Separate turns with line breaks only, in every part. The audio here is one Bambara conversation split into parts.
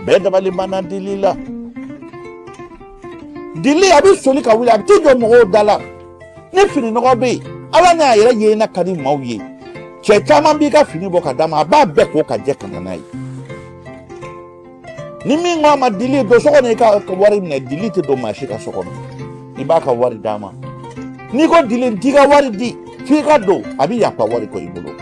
bɛɛ dabali banna dili la dili a bɛ soli ka wuli a bɛ t'i jɔ mɔgɔw da la ni fini nɔgɔ bɛ yen ala n'a yɛrɛ ye n'a ka di maaw ye cɛ caman b'i ka fini bɔ ka d'a ma a b'a bɛɛ ko ka jɛ ka na n'a ye ni min ko a ma dili don so kɔnɔ i ka wari minɛ dili tɛ don maa si ka so kɔnɔ i b'a ka wari d'a ma n'i ko dili n t'i ka wari di f'i ka don a bɛ yafa wari kɔ i bolo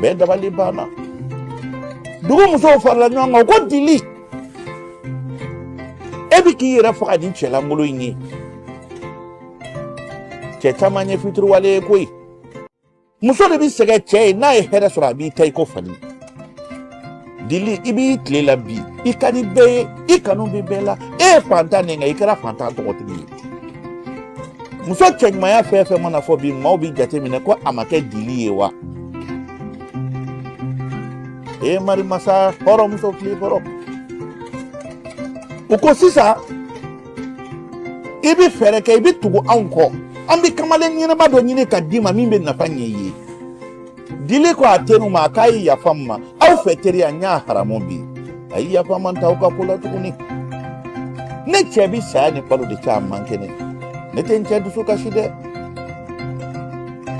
bɛɛ dabali banna dugu musow farala ɲɔgɔn kan ko dili e bɛ k'i yɛrɛ faga ni cɛ lankolon in ye cɛ caman ye fitiriwale ye koyi muso de bɛ sɛgɛn cɛ ye n'a ye hɛrɛ sɔrɔ a b'i ta i ko fali dili i b'i tile la bi i ka di bɛɛ ye i kanu bɛ bɛɛ la e ye fantan ye nka i kɛra fantan tɔgɔtigi ye muso cɛɲumanya fɛn fɛn mana fɔ bi maaw bɛ jate minɛ ko a ma kɛ dili ye wa e ye marimasa hɔrɔnmuso fili kɔrɔ u ko sisan i bɛ fɛɛrɛ kɛ i bɛ tugu anw kɔ an bɛ kamalen ɲɛnama dɔ ɲini ka d'i ma min bɛ nafa ɲɛ i ye dili ko a teriw ma k'a ye yafa n ma aw fɛ teriya n y'a haramu bi a ye yafa n ma n t'aw ka ko la tuguni ne cɛ bi saya ni balo de cɛ a man kɛnɛ ne tɛ n cɛ dusu kasi dɛ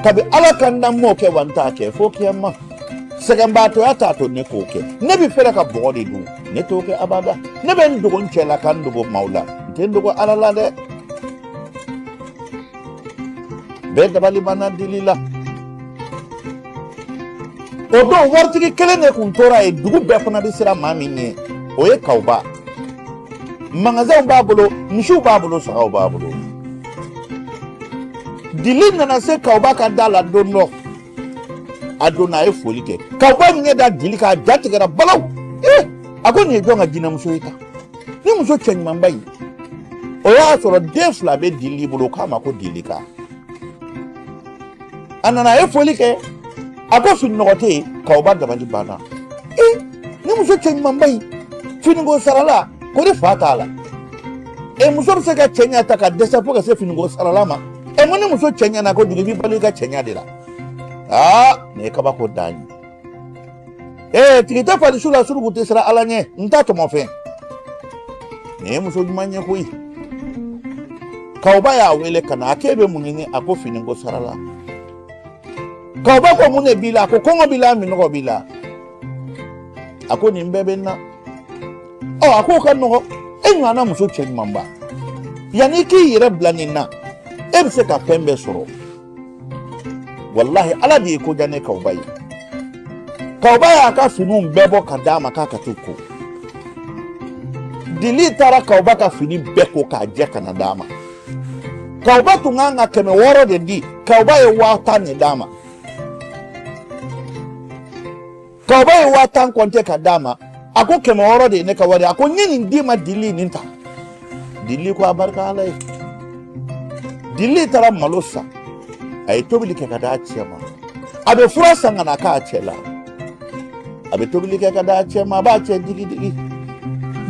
kabi ala ka n dan n m'o kɛ wa n t'a kɛ fo kiyama sɛgɛnbaatɔya t'a to ne k'o kɛ ne bi fɛrɛ ka bɔgɔ de dun ne t'o kɛ abada ne bɛ n dogo n cɛ la ka n dogo maaw la n tɛ n dogo ala la dɛ bɛɛ dabali banna dili la o don waritigi kelen de kun tora yen dugu bɛɛ fana bɛ siran maa min ɲɛ o ye kawuba magasɛnw b'a bolo misiw b'a bolo sagaw b'a bolo dili nana se kawuba ka da la don dɔ a donna a ye foli kɛ kawuba ɲɛ da dili kan a ja tigɛra balaw ee a ko nin ye jɔn ka jinɛmuso ye tan nin muso cɛɲumanba in o y'a sɔrɔ den fila bɛ dili bolo k'a ma ko dili kan a nana a ye foli kɛ a ko fini nɔgɔ tɛ yen kawuba dabali banna ee nin muso cɛɲumanba in finiko sarala ko ne fa t'a la e muso bɛ se ka cɛɲa tan ka dɛsɛ fo ka se finiko sarala ma e ma ni muso cɛɲana ko dugu b'i balo i ka cɛɲa de la aa nin ye kabako dan ye ee tigi tɛ fali su la suruku tɛ siran ala ɲɛ n ta tɔmɔfɛn nin ye muso ɲuman ye koyi kawuba y'a wele ka na a k'e bɛ mun ɲini a ko finiko sarala kawuba ko mun de b'i la a ko kɔngɔ b'i la minɔgɔ b'i la a ko nin bɛɛ bɛ n na ɔ a k'o ka nɔgɔn e ɲɔgɔnna muso cɛɲumanba yanni i k'i yɛrɛ bila nin na e bɛ se ka fɛn bɛɛ sɔrɔ walahi ala de y'e ko diya ne kawba ye kawba y'a ka finiw bɛɛ bɔ ka d'a ma k'a ka t'u ko dili taara kawba ka fini bɛɛ ko k'a jɛ ka na d'a ma kawba tun ka kan ka kɛmɛ wɔɔrɔ de di kawba ye waa tan de d'a ma kawba ye waa tan kɔnte ka d'a ma a ko kɛmɛ wɔɔrɔ de ye ne ka wari a ko n ye nin d'i ma dili nin ta dili ko a barika ala ye dili taara malo san a ye tobili kɛ ka d'a cɛ ma a bɛ fura san ka na k'a cɛ la a bɛ tobili kɛ ka d'a cɛ ma a b'a cɛ digi digi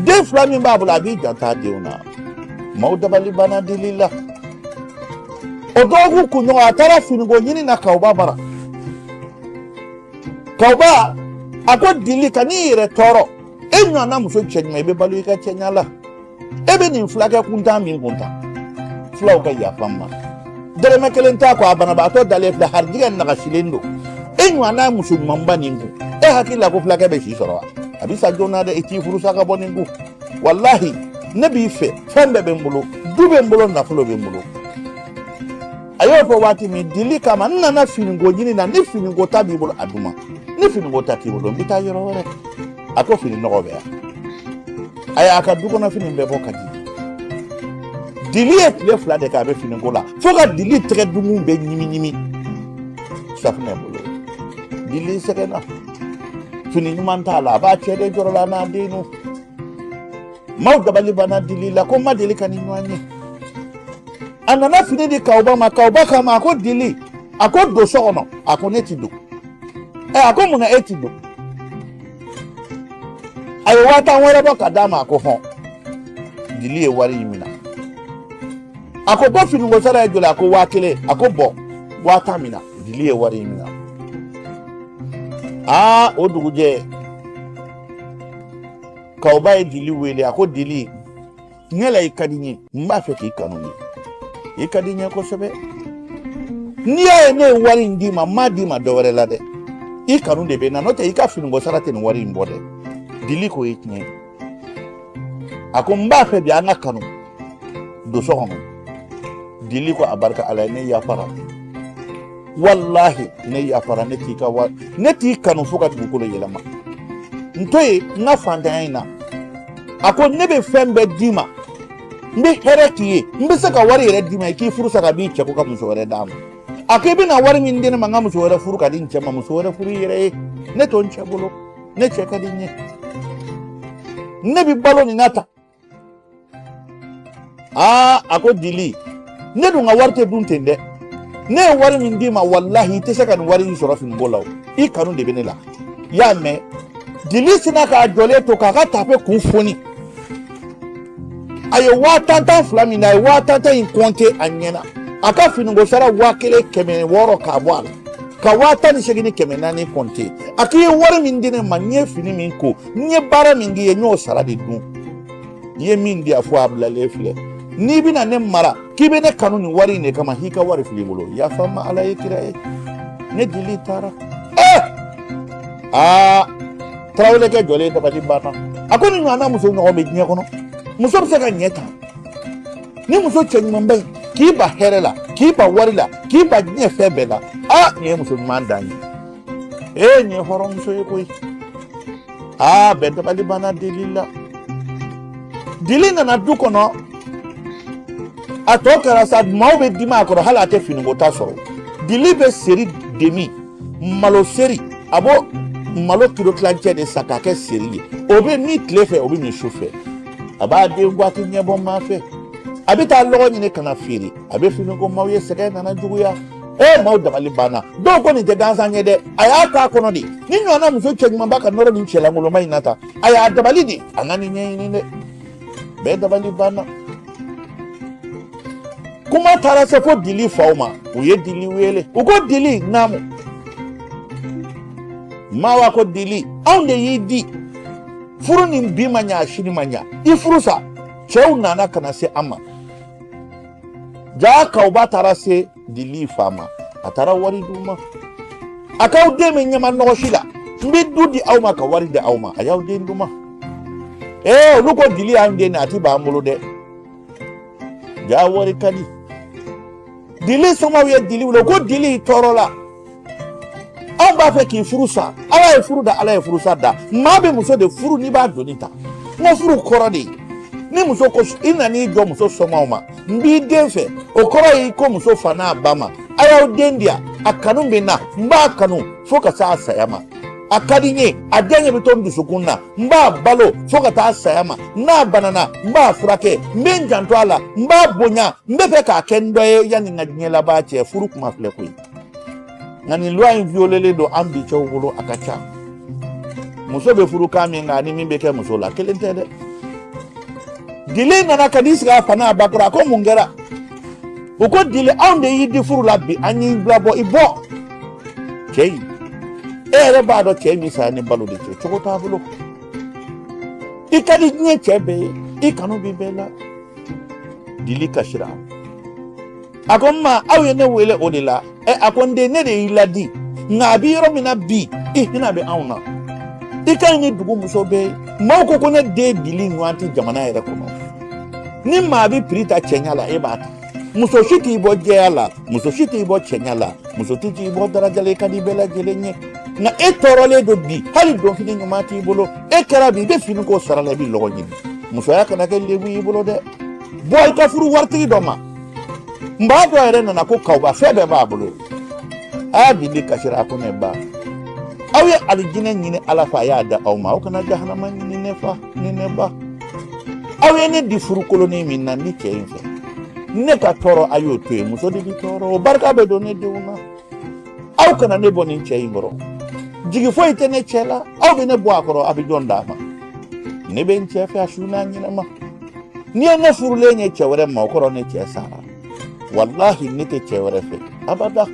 den fila min b'a bolo a b'i janto a denw na maaw dabali banna dili la o dɔgɔkun kunɲɔgɔn a taara finiko ɲini na kawba bara kawba a ko dili kan'i yɛrɛ tɔɔrɔ e ɲɔgɔnna muso cɛɲuman i bɛ balo i ka cɛɲa la e bɛ nin fulakɛ kuntan nin kun tan fulaw ka yafa n ma dɛrɛmɛ kelen t'a kɔ a banabaatɔ dalen filɛ harijigɛ nagasilen don e ɲɔgɔnna muso ɲuman bɛ nin kun e hakili la ko fulakɛ bɛ si sɔrɔ wa a bɛ sa joona dɛ i t'i furu sa ka bɔ nin kun walahi ne b'i fɛ fɛn bɛɛ bɛ n bolo du bɛ n bolo nafolo bɛ n bolo a y'o fɔ waati min dili k'a ma n nana finiko ɲini na ni fini kota b'i bolo a di n ma ni fini kota t'i bolo n bɛ taa yɔrɔ wɛrɛ a ko fini nɔgɔ bɛ yan a y'a ka du kɔnɔ fini bɛɛ bɔ ka di dili ye tile fila de kɛ a bɛ finiko la fo ka dili tɛgɛ dugu bɛɛ ɲimi ɲimi safunɛ bolo dili sɛgɛnna fini ɲuman t'a la a b'a cɛ de jɔrɔ la n'a denw maaw dabali banna dili la ko n ma deli ka nin ɲɔgɔn ye a nana fini di kawuba ma kawuba k'a ma a ko dili a ko don so kɔnɔ a ko ne ti don ɛ a ko mun na e ti don a ye waa tan wɛrɛ bɔ ka d'a ma a ko hɔn dili ye wari in minɛ a ko bɔn finiko sara ye joli a ko waa kelen a ko bɔn waa tan minɛ dili ye wari in minɛ aa o dugujɛ kawba ye dili wele a ko dili ne la i ka di n ye n b'a fɛ k'i kanu ye i ka di n ye kosɛbɛ n'i y'a ye ne ye wari in d'i ma n m'a d'i ma dɔ wɛrɛ la dɛ i kanu de bɛ n na n'o tɛ i ka finiko sara tɛ nin wari in bɔ dɛ dili k'o ye tiɲɛ ye a ko n b'a fɛ bi an ka kanu don so kɔnɔ dili ko a barika ala ye ne yafara walahi ne yafara ne t'i ka wa ne t'i kanu fo ka dugukolo yɛlɛma n to yen n ka fantanya in na a ko ne bɛ fɛn bɛɛ d'i ma n bɛ hɛrɛ k'i ye n bɛ se ka wari yɛrɛ d'i ma i k'i furu sa ka b'i cɛ kun ka muso wɛrɛ d'a ma a ko i bɛna wari min di ne ma n ka muso wɛrɛ furu ka di n cɛ ma muso wɛrɛ furu i yɛrɛ ye ne to n cɛ bolo ne cɛ ka di n ye ne bɛ balo nin na tan aa a ko dili ne dun ka wari tɛ dun ten dɛ ne ye wari min d'i ma walahi i tɛ se ka nin wari in sɔrɔ finiko la o i kanu de bɛ ne la i y'a mɛn dili sinna k'a jɔlen to k'a ka tafe kun foni a ye waa tan tan fila mina a ye waa tan tan in kɔnte a ɲɛna a ka finiko sara waa kelen kɛmɛ wɔɔrɔ k'a bɔ a la ka waa tan ni seegin ni kɛmɛ naani kɔnte a k'i ye wari min di ne ma n ye fini min ko n ye baara min k'i ye n y'o sara de dun i ye min di a fɔ a bilalen filɛ n'i bɛna ne mara k'i bɛ ne kanu nin wari in de kama i ka wari filɛ i bolo yafa n ma ala ye kira ye ne dili taara ee aa tarawelekɛ jɔlen dabali banna a ko nin ɲɔgɔnna muso ɲɔgɔn bɛ diɲɛ kɔnɔ muso bɛ se ka ɲɛ tan nin muso cɛɲumanba in k'i ban hɛrɛ la k'i ban wari la k'i ban diɲɛ fɛn bɛɛ la aa nin ye muso ɲuman dan ye ee nin ye hɔrɔnmuso ye koyi aa bɛɛ dabali banna dili la dili nana du kɔnɔ a tɔ kɛra sa maaw bɛ dimi a kɔrɔ hali a tɛ fini kota sɔrɔ dili bɛ seri de min malo seri a b'o malo kilo tilancɛ de san k'a kɛ seri ye o bɛ min tile fɛ o bɛ min su fɛ a b'a den waati ɲɛbɔ maa fɛ a bɛ taa lɔgɔ ɲini ka na feere a bɛ fini ko maaw ye sɛgɛn nana juguya e maaw dabali banna dɔw ko nin tɛ gansan ye dɛ a y'a k'a kɔnɔ de nin ɲɔgɔnna muso cɛɲumanba ka nɔrɔ nin cɛlankolonba in na tan a y'a dabali de an ka nin ɲɛɲini dɛ bɛɛ dabali banna kuma taara se fo dili faw ma u ye dili wele u ko dili naamu mawa ko dili anw de y'i di furu ni bi ma ɲa a sini ma ɲa i furu sa cɛw nana ka na se an ma jaa kawuba taara se dili fa ma a taara wari d'u ma a k'aw den bɛ ɲama nɔgɔ si la n bɛ du di aw ma ka wari di aw ma a y'aw den di n ma ee olu ko dili y'an den de a ti b'an bolo dɛ jaa wari ka di dili somaaw ye dili wele ko dili tɔɔrɔla anw b'a fɛ k'i furu sa ala ye furu da ala ye furu sa da maa bɛ muso de furu n'i b'a doni ta n ko furu kɔrɔ de ni muso ko i nan'i jɔ muso somaaw ma n b'i den fɛ o kɔrɔ y'i ko muso fa n'a ba ma a y'aw den di yan a kanu bɛ n na n b'a kanu fo ka s'a saya ma a ka di n ye a diyanye bɛ to n dusukun na n b'a balo fo ka taa saya ma n'a banana n b'a furakɛ n bɛ n janto a la n b'a bonya n b'a fɛ k'a kɛ n dɔ ye yanni n ka diɲɛ laban cɛ furu kuma filɛ koyi nka nin luwa in violelen don an bi cɛw bolo a ka ca muso bɛ furu kan min kan ani min bɛ kɛ muso la kelen tɛ dɛ dili nana ka n'i sigi a fa n'a ba kɔrɔ a ko mun kɛra u ko dili anw de y'i di furu la bi an y'i bila bɔ i bɔ cɛ in e yɛrɛ b'a dɔn cɛ in bɛ saya ni balo de cɛ cogo t'a bolo i ka di diɲɛ cɛ bɛɛ ye i kanu bɛ bɛɛ la dili kasira a ko n ma aw ye ne wele o de la ɛ a ko n den ne de y'i ladi nka a bɛ yɔrɔ min na bi i hinɛ bɛ anw na i ka ɲi ni dugu muso bɛɛ ye maaw ko ko ne den dili ɲɔgɔn tɛ jamana yɛrɛ kɔnɔ ni maa bɛ piri ta cɛɲa la e b'a ta muso si t'i bɔ jɛya la muso si t'i bɔ cɛɲa la muso si t'i bɔ daraja la e ka di bɛɛ lajɛlen ye nka e tɔɔrɔlen don bi hali donfini ɲuman t'i bolo e kɛra bi i bɛ fini ko sara la i bɛ lɔgɔ ɲini musoya kana kɛ lebu y'i bolo dɛ bɔ i ka furu waritigi dɔ ma n ba dɔ yɛrɛ nana ko kawuba fɛn bɛɛ b'a bolo a dili kasira a ko ne ba aw ye alijinɛ ɲini ala fɛ a y'a da aw ma aw kana jahanama ɲini ne fa ni ne ba aw ye ne di furukolonin min na nin cɛ in fɛ ne ka tɔɔrɔ a y'o to yen muso de bi tɔɔrɔ o barika bɛ don ne denw na aw kana ne bɔ nin cɛ in kɔrɔ jigi foyi tɛ ne cɛ la aw bɛ ne bɔ a kɔrɔ a bɛ jɔn d'a ma ne bɛ n cɛ fɛ a su n'a ɲɛnama n'i ye ne furulen ye cɛ wɛrɛ ma o kɔrɔ ne cɛ sara walahi ne tɛ cɛ wɛrɛ fɛ abada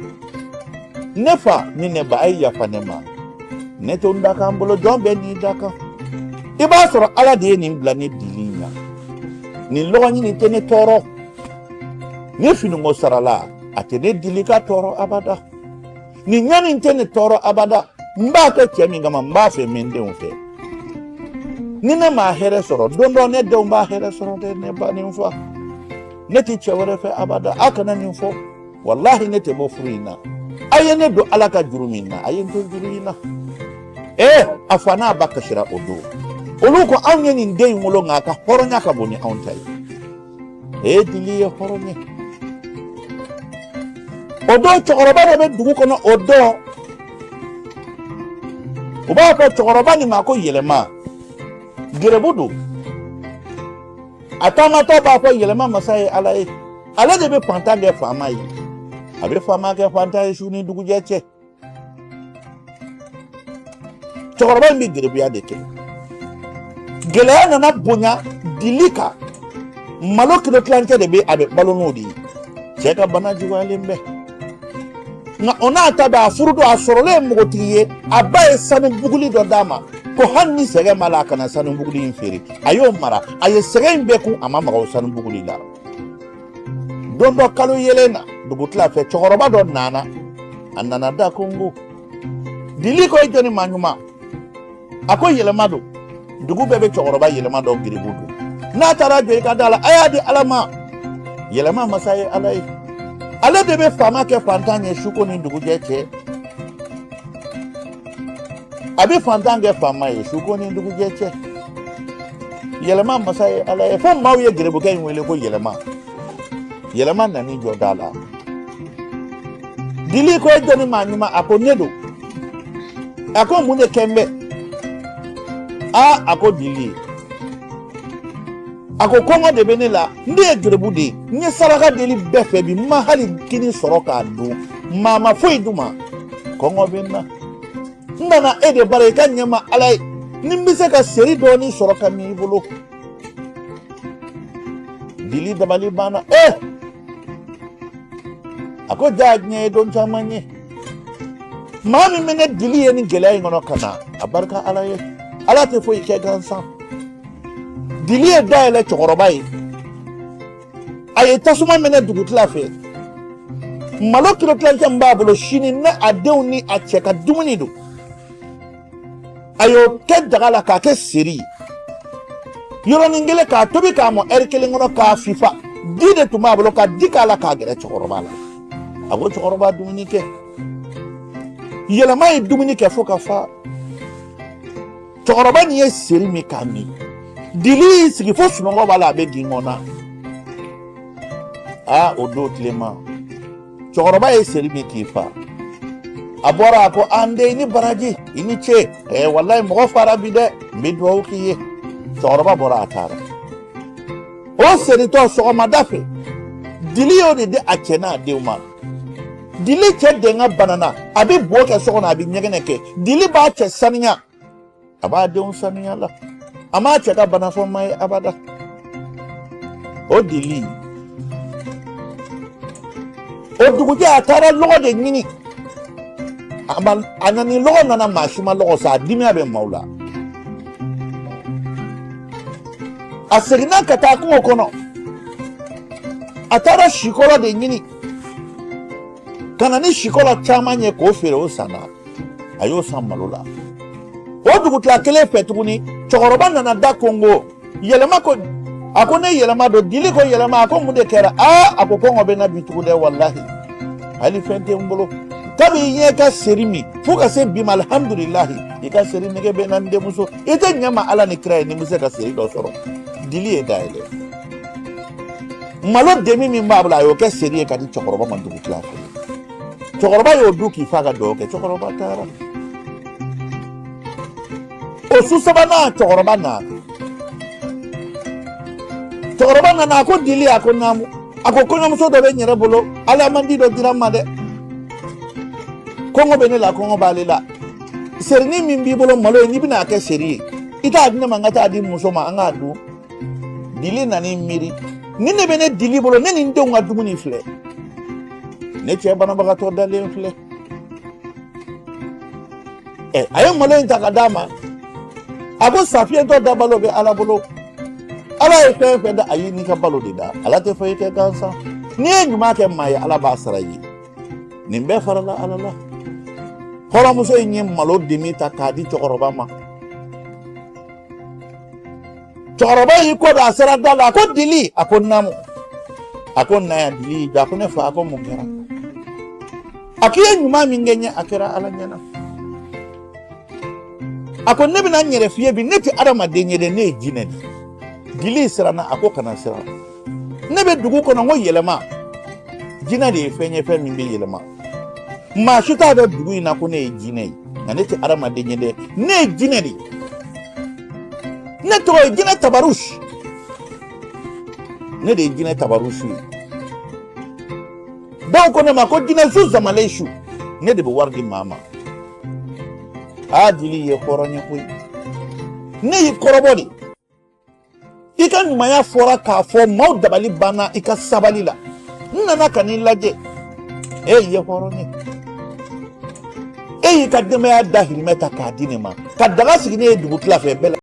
ne fa ni ne ba a ye yafa ne ma ne to n dakan bolo jɔn bɛɛ n'i dakan i b'a sɔrɔ ala de ye nin bila ne dili ɲa nin lɔgɔɲini tɛ ne tɔɔrɔ nin finiko sara la a tɛ ne dili ka tɔɔrɔ abada nin ɲani tɛ ne tɔɔrɔ abada n b'a kɛ cɛ min kama n b'a fɛ n bɛ n denw fɛ ni ne m'a hɛrɛ sɔrɔ don dɔ ne denw b'a hɛrɛ sɔrɔ dɛ ne ba ni n fa ne tɛ cɛ wɛrɛ fɛ abada a kana nin fɔ walahi ne tɛ bɔ furu in na a ye ne don ala ka juru min na a ye n to juru in na ee a fa n'a ba kasira o don olu ko anw ye nin den in wolo nka a ka hɔrɔnya ka bon ni anw ta ye e dili ye hɔrɔn ye o don cɛkɔrɔba dɔ bɛ dugu kɔnɔ o don u b'a fɔ cɛkɔrɔba nin ma ko yɛlɛma gɛrɛbu don a taamatɔ b'a fɔ yɛlɛma masa ye ala ye ale de bɛ fantan kɛ faama ye a bɛ faama kɛ fantan ye su ni dugujɛ cɛ cɛkɔrɔba in bɛ gerebuya de kɛ gɛlɛya nana bonya dili kan malo kilo tilancɛ de bɛ a bɛ balo n'o de ye cɛ ka bana juguyalen bɛ nka o n'a ta bɛɛ a furu don a sɔrɔlen ye npogotigi ye a ba ye sanu buguli dɔ d'a ma ko hali ni sɛgɛn b'a la a kana sanu buguli in feere a y'o mara a ye sɛgɛn in bɛɛ kun a ma maga o sanu buguli la don dɔ kalo yeelen na dugutila fɛ cɛkɔrɔba dɔ nana a nana da konkon dili ko i jɔni maa ɲuman a ko yɛlɛma don dugu bɛɛ bɛ cɛkɔrɔba yɛlɛma dɔn gerebu don n'a taara jɔ i ka da la a y'a di ala ma yɛlɛma masa ye ala ye ale de bɛ faama kɛ fantan ye suko ni dugujɛ cɛ a bɛ fantan kɛ faama ye suko ni dugujɛ cɛ yɛlɛma masa ye ala ye fo maaw ye gerebukɛ in wele ko yɛlɛma yɛlɛma nan'i jɔ da la dili ko e jɔni maa ɲuman a ko ne don a ko mun de kɛlen bɛ a a ko dili a ko kɔngɔ de bɛ ne la n de ye gerebu de ye n ye saraka deli bɛɛ fɛ bi n ma hali kini sɔrɔ k'a dun maa ma foyi di n ma kɔngɔ bɛ n na n nana e de bara i k'a ɲɛ n ma ala ye ni n bɛ se ka seri dɔɔnin sɔrɔ ka min i bolo dili dabali banna e eh! a ko jaa diɲɛ ye don caman ye maa min bɛ ne dili ye nin gɛlɛya in kɔnɔ ka na a barika ala ye ala tɛ foyi kɛ gansan dili ye da yɛlɛ cɛkɔrɔba ye a ye tasuma mɛnɛ dugutila fɛ malo kilo tilancɛ min b'a bolo sini ne a denw ni a cɛ ka dumuni don a y'o kɛ daga la k'a kɛ seri ye yɔrɔnin kelen k'a tobi k'a mɔ ɛri kelen kɔnɔ k'a fifa di de tun b'a bolo ka di k'a la k'a gɛrɛ cɛkɔrɔba la a ko cɛkɔrɔba dumuni kɛ yɛlɛma ye dumuni kɛ fo ka fa cɛkɔrɔba nin ye seri min k'a min dili y'i sigi fo sunɔgɔ b'a la a bɛ jingɔn na aa o don tilema cɛkɔrɔba ye seri min k'i fa a bɔra a ko aa n den i ni baraji i ni ce ɛɛ walayi mɔgɔ fara bi dɛ n bɛ dugawu k'i ye cɛkɔrɔba bɔra a taara o seri tɔ sɔgɔmada fɛ dili y'o de di a cɛ n'a denw ma dili cɛ denga banana a bɛ bo kɛ so kɔnɔ a bɛ ɲɛgɛnɛ kɛ dili b'a cɛ saniya a b'a denw saniya la a m'a cɛ ka bana fɔ maa ye abada o dili o dugujɛ a taara lɔgɔ de ɲini a nana ni lɔgɔ nana maa si ma lɔgɔ san a dimiya bɛ maaw la a seginna ka taa kungo kɔnɔ a taara sikolo de ɲini ka na ni sikolo caman ye k'o feere o sanna a y'o san malo la o dugutila kelen fɛ tuguni cɛkɔrɔba nana da konkon yɛlɛma ko a ko ne yɛlɛma don dili ko yɛlɛma a ko mun de kɛra aa a ko kɔngɔ bɛ n na bi tugu dɛ walahi hali fɛn tɛ n bolo kabi n y'e ka seri min fo ka se bi ma alihamudulilahi i ka seri nege bɛ n na n denmuso i t'a ɲɛ n ma ala ni kira ye ni n bɛ se ka seri dɔ sɔrɔ dili ye da yɛlɛ malo demi min b'a bolo a y'o kɛ seri ye k'a di cɛkɔrɔba ma dugu tila fɛ cɛkɔrɔba y'o dun k'i fa ka dugawu kɛ cɛkɔrɔba taara o su sabanan cɛkɔrɔba na cɛkɔrɔba nana a ko dili a ko naamu a ko kɔɲɔmuso dɔ bɛ n yɛrɛ bolo alamandi dɔ dira n ma dɛ kɔngɔ bɛ ne la kɔngɔ b'ale la serini min b'i bolo malo ye n'i bɛna a kɛ seri ye i t'a di ne ma n ka taa di muso ma an k'a dun dili nan'i miiri nin de bɛ ne dili bolo ne ni n denw ka dumuni filɛ ne cɛ banabagatɔ dalen filɛ ɛ a ye malo in ta k'a d'a ma a ko sa fiyentɔ da balo bɛ ala bolo ala ye fɛn fɛn da a y'i n'i ka balo de da ala tɛ foyi kɛ gansan n'i ye ɲuman kɛ maa ye ala b'a sara i ye nin bɛɛ farala ala la hɔrɔnmuso in ye malo demi ta k'a di cɛkɔrɔba ma cɛkɔrɔba y'i kɔ don a sera da la a ko dili a ko naamu a ko na yan dili jɔ a ko ne fa a ko mun kɛra a ko i ye ɲuman min kɛ n ye a kɛra ala ɲɛna a ko ne bɛna n yɛrɛ f'i ye bi ne tɛ adamaden ye dɛ ne ye jinɛ de ye dili siranna a ko kana siran ne bɛ dugu kɔnɔ n ko yɛlɛma jinɛ de ye fɛn ye fɛn min bɛ yɛlɛma maa si t'a dɔn dugu in na ko ne ye jinɛ ye nka ne tɛ adamaden ye dɛ ne ye jinɛ de ye ne tɔgɔ ye jinɛ tabarusi ne de ye jinɛ tabarusi ye dɔw ko ne ma ko jinɛ su zamalen su ne de bɛ wari di maa ma a dili ye hɔrɔn ye koyi ne y'i kɔrɔbɔ de i ka ɲumanya fɔra k'a fɔ maaw dabali banna i ka sabali la n nana ka n'i lajɛ e ye hɔrɔn ye e y'i ka denbaya dahirimɛ ta k'a di ne ma ka daga sigi ne ye dugu tila fɛ bɛɛ la